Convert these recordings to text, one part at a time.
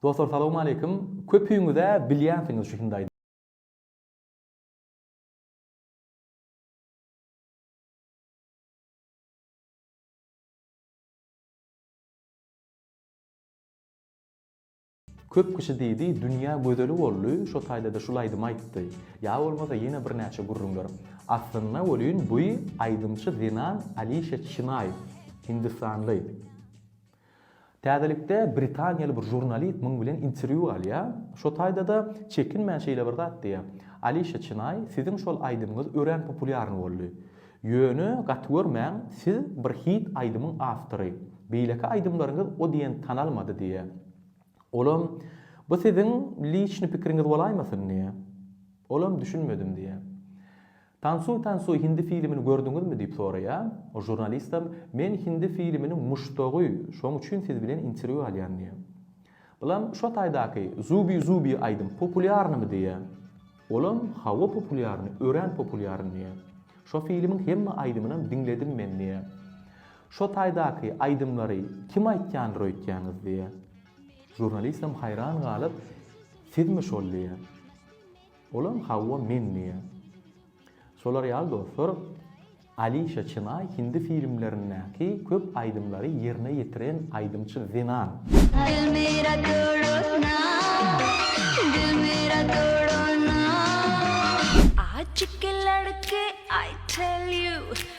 Dostlar salowmaleýkim. Köpüňizä bilýänsiňiz şu Hyndaydy. Köp kişi diýdi dünýä gözeli boldy şo taýdada şul aýdymy aýtdy. Ýa bolmasa ýene birnäçe gürrüňler. Aslynda welin buý aýdymçy zenan Alişa Çinaý. Hindistanly. Täzelikde britaniýaly bir žurnalist muň bilen interwýu alýar. Şo taýda-da çekinmän şeýle bir zat diýýär, Alişa Çynay, siziň şol aýdymyňyz örän populýarny boldy. Ýöne, gaty görmäň, siz bir hit aýdymyň awtory. Beýleki aýdymlaryňyz o diýen tanalmady diýýär. Olam, Bu siziň liçny pikiriňiz bolaýmasyn diýýär. Olam, Düşünmedim diýýär. Tansuý Tansuý hindi filimini gördüňizmi diýip soraýa. O žurnalistem men hindi filiminiň muşdagy şoň üçin siz bilen interwýu alýan diýä. Bulam şo taýdaky zubi zubi aýdym populýarnymy diýä. Olam hawa populýarny örän populýarny diýä. Şo filimiň hemme aýdymynam diňledim men diýä. Şo taýdaky aýdymlary kim aýtýandyr öýtýäňiz diýä. Žurnalistem haýran galyp sizmi şol diýä. Olam Hawa men diýýär. Şolar ýaly dostlar Alişa Çynay hindi filmlerindäki köp aýdymlary ýerine ýetiren aýdymçy zenan. Dil mera todona, dil mera todona. Aşyk ladki I tell you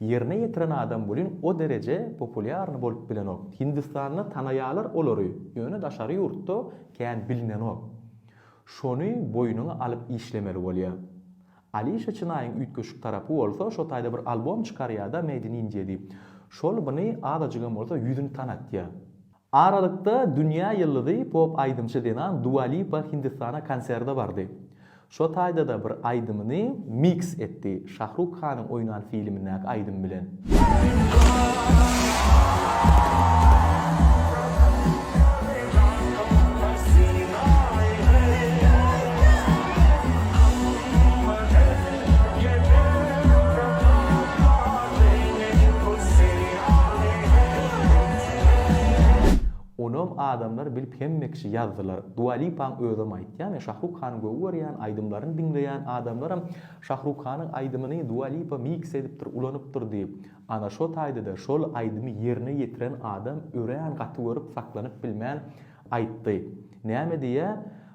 Ýerine ýetiren adam welin o dereje populýarny bolup bilenok. Hindistanda tanaýalar olary, ýöne daşary ýurtda kän bilinenok. Şony boýnuňa alyp işlemeli bolýa. Alişa Çynaýyň üýtgeşik tarapy bolsa şo taýda bir albom çykarýada Made in India diýip. Şol bny azajygam bolsa ýüzüni tanatýa. Aralykda dünýä ýyldyzy pop aýdymçy zenan Dua Lipa Hindistana konserde bardy. Şo taýda-da bir aýdymyny miks etdi, Şah Ruk Hanyň oýnan filmindäki aýdym bilen. Onam adamlar bilip hemme kişi ýazdylar. Dua Lipaň özem aýtýar. Men Şahruk Hany göwy görýän, aýdymlaryny diňleýän adamlaram Şahruk Hanyň aýdymyny Dua Lipa miks edipdir, ulanypdyr diýip. Ana şo taýdada şol aýdymy ýerine ýetiren adam örän gaty görüp saklanyp bilmän aýtdy. Näme diýýä?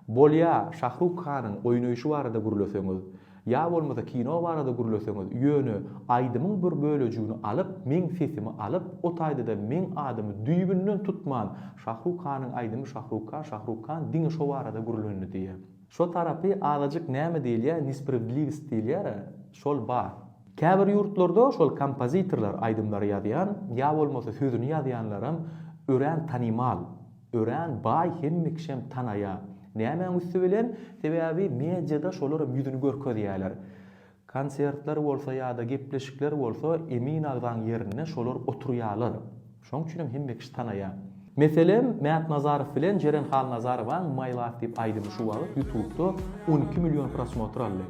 Bolýa, Şahruk Hanyň oýnaýşy barada gürleseňiz. Ýa bolmasa kino barada gürleseňiz, ýöne aýdymyň bir bölejigini alyp, meň sesimi alyp, o taýda-da meň adymy düýbünden tutman, Şahruk Hanyň aýdymy Şahruk Han, Şahruk Han diňe şo barada gürlendi diýýär. Şo tarapy azajyk näme diýilýär, nespravedliwist diýilýär-ä, şol bar. Käbir ýurtlarda şol kompozitorlar aýdymlary ýazýan, ýa bolmasa sözüni ýazýanlaram örän tanymal. Örän baý hemme kişem tanaýa. Nämäň üsti bilen? Sebäbi mediada şolaram ýüzüni görkezýäler. Konsertler bolsa ýa-da gepleşikler bolsa Emin agzaň ýerinde şolar oturýalar. Şoň üçinem hemme kişi tanaýa. Meselem Mätnazarow bilen Jeren Halnazarowaň My Love diýip aýdymy şu wagyt ýutubda on iki million prosmotr aldy.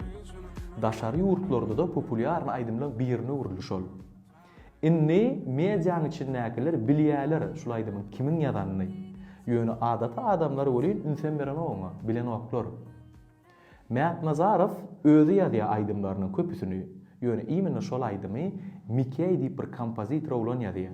Daşary ýurtlarda-da populýarny aýdymlaň birine öwrüldi şol. Indi mediaň içindäkiler bilýäler şul aýdymyň kimiň ýazanyny. Ýöne adaty adamlar welin ünsem berenok oňa, bilenoklar. Mätnazarow özi ýazýar aýdymlarynyň köpüsini, ýöne imенно şol aýdymy Mikeý diýip bir kompozitor oglan ýazýar.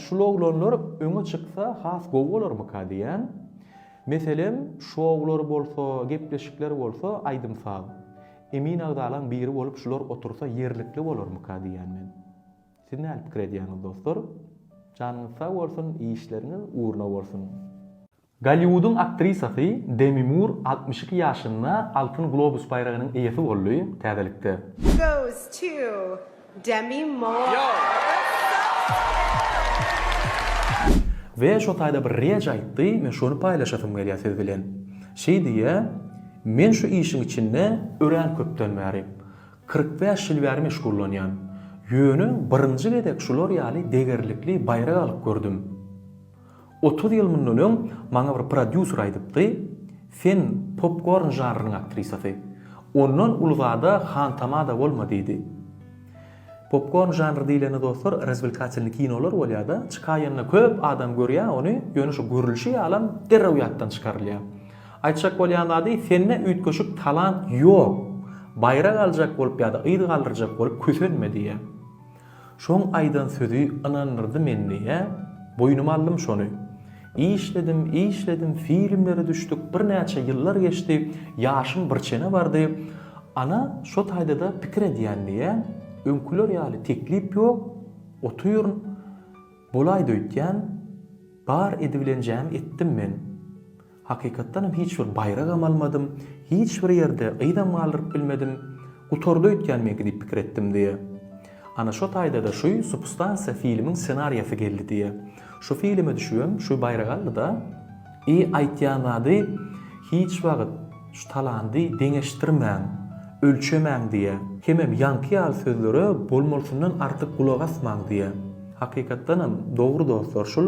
Şul oglanlar öňe çyksa has gowy bolarmyka diýýän. Meselem, şoular bolsa, gepleşikler bolsa, aýdym-saz. Emin agzalaň biri bolup şular otursa ýerlikli bolarmyka diýýän men. Siz näl pikir edýäňiz dostlar? Janyňyz sag bolsun, işleriňiz ugruna bolsun! Golliwudyň aktrisasy Demi Mur altmyş iki ýaşynda Altyn globus baýragynyň eýesi boldy, täzelikde. Goes to Demi Moore. We şo taýda bir reç aýtdy, men şony paýlaşasym gelýär siz bilen. Şeý diýýä, Men şu işiň içinde örän köpden bäri, kyrk bäş ýyl bäri meşgullanýan. Ýöne birinji gezek şular ýaly degerlikli baýrak alyp gördüm. Otuz ýyl mundan öň maňa bir prodýuser aýdypdy, Sen popkorn žanrynyň aktrisasy. Ondan uly zada hantama-da bolma diýdi. Popkorn žanry diýlende dostlar razwelkatelnyý kinolar bolýa-da, çykaýanda köp adam görýä ony, ýöne şu görülişi ýalam derrew ýatdan çykarylýa. Aýtjak bolýan zady, sende üýtgeşik talant ýok. Baýrak aljak bolup ýa-da yz galdyrjak bolup kösenme diýýä. Şoň aýdan sözi ynandyrdy meniä, boýnuma aldym şony. Işledim, işledim, filmlere düşdük, birnäçe ýyllar geçdi, ýaşym birçene bardy. Ana, şo taýda-da pikir edýän diä, öňküler ýaly teklip ýok, otyryn, bolaýdy öýtýän, bar edibilenjämi etdim men. Hakykatdanam hiç bir baýragam almadym, hiç bir ýerde gyzam galdyryp bilmedim. Gutardy öýtýän meňki diýip pikir etdim diýýär. Ana şo taýda-da şuý Substansiýa filmiň ssenariýasy geldi diýýär. Şu filime düşübem şuý baýragy aldy-da. I aýtýan zady hiç wagt şu talandy deňeşdirmäň, ölçemäň diýýär. Hemem ýaňky ýaly sözlere bolmalysyndan artyk gulak asmaň diýýär. Hakykatdanam dogry dostlar şul.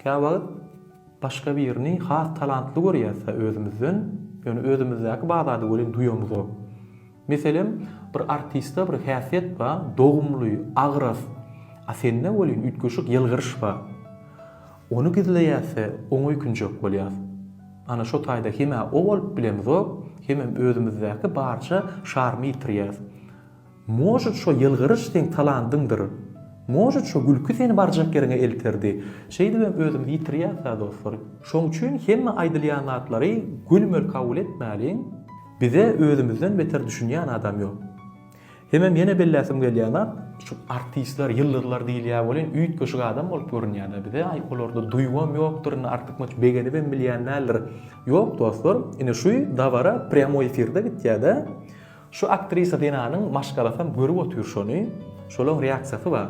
Käwagt. Başga birini has talantly görýäs-hä özümizden, ýöne özümizdäki bazarda welin duýamyzok. Meselem, bir artistde bir häsiýet bar, dogumly, agras, a sende welin üýtgeşik ýylgyryş bar. Ony gizleýäs-hä, oňa öýkünjek bolýas. Ana, şo taýda hem-ä o bolup bilemizok, hemem özümizdäki barja şarymy ýitirýäs. Может, şo ýylgyryş seň talandyňdyr? Может, şo gülki seni barjak ýeriňe elterdi? Şeýdibem özümizi ýitirýäs-ä, dostlar. Şoň üçin hemme aýdylýan zatlary gülmeli kabul etmäliň, bize özümizden beter düşünýän adam ýok. Hemem ýene belläsim gelýän zat, şu artistler, ýyldyzlar diýilýär welin, üýtgeşik adam bolup görünýär-dä bize, aý, olarda duýgam ýokdur, indi artykmaç begenibem bilýän däldir. Ýok, dostlar, ine şu dabara prýamoý efirde gitýär-dä. Şu aktrisa zenanyň maşgalasam görüp otyr şony şolaň reaksiýasy ba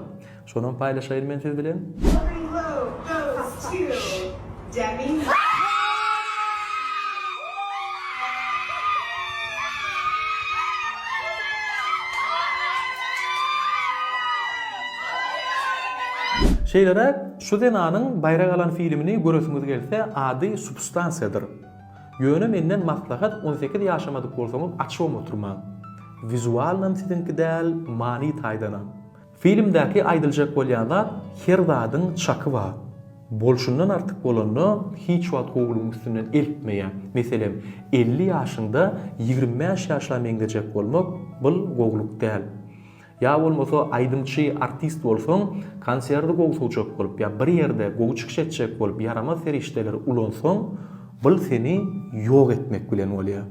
şonam paýlaşaýyn men siz bilen. Glory love goes to Jamila. Şeýleräk, şu zenanyň baýrak alan filmini göresiňiz gelse, ady Substansiýadyr. Ýöne menden maslahat on sekiz ýaşamadyk bolsaňyz açuwam oturmaň. Wizualnam siziňki däl many taýdanam. Filmdäki aýdyljak bolýan zat her zadyň çaky bar. Bolşundan artyk bolanda hiç wagt gowulygyň üstünden eltmeýä. Meselem elli ýaşyňda ýigrimi bäş ýaşla meňzejek bolmak bul gowulyk däl. Ýa bolmasa aýdymçy, artist bolsaň, konserti gowy suwjak bolup ýa bir ýerde gowy çykyş etjek bolup ýaramaz serişdeleri ulansaň, bul seni ýok etmek bilen bolýar.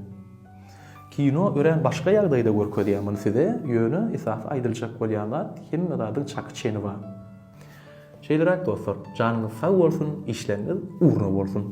Kino örän başga ýagdaýda görkezýär muny size, ýöne esasy aýdyljak bolýan zat, hemme zadyň çaky-çeni bar. Şeýleräk dostlar, janyňyz sag bolsun, işleriňiz ugruna bolsun!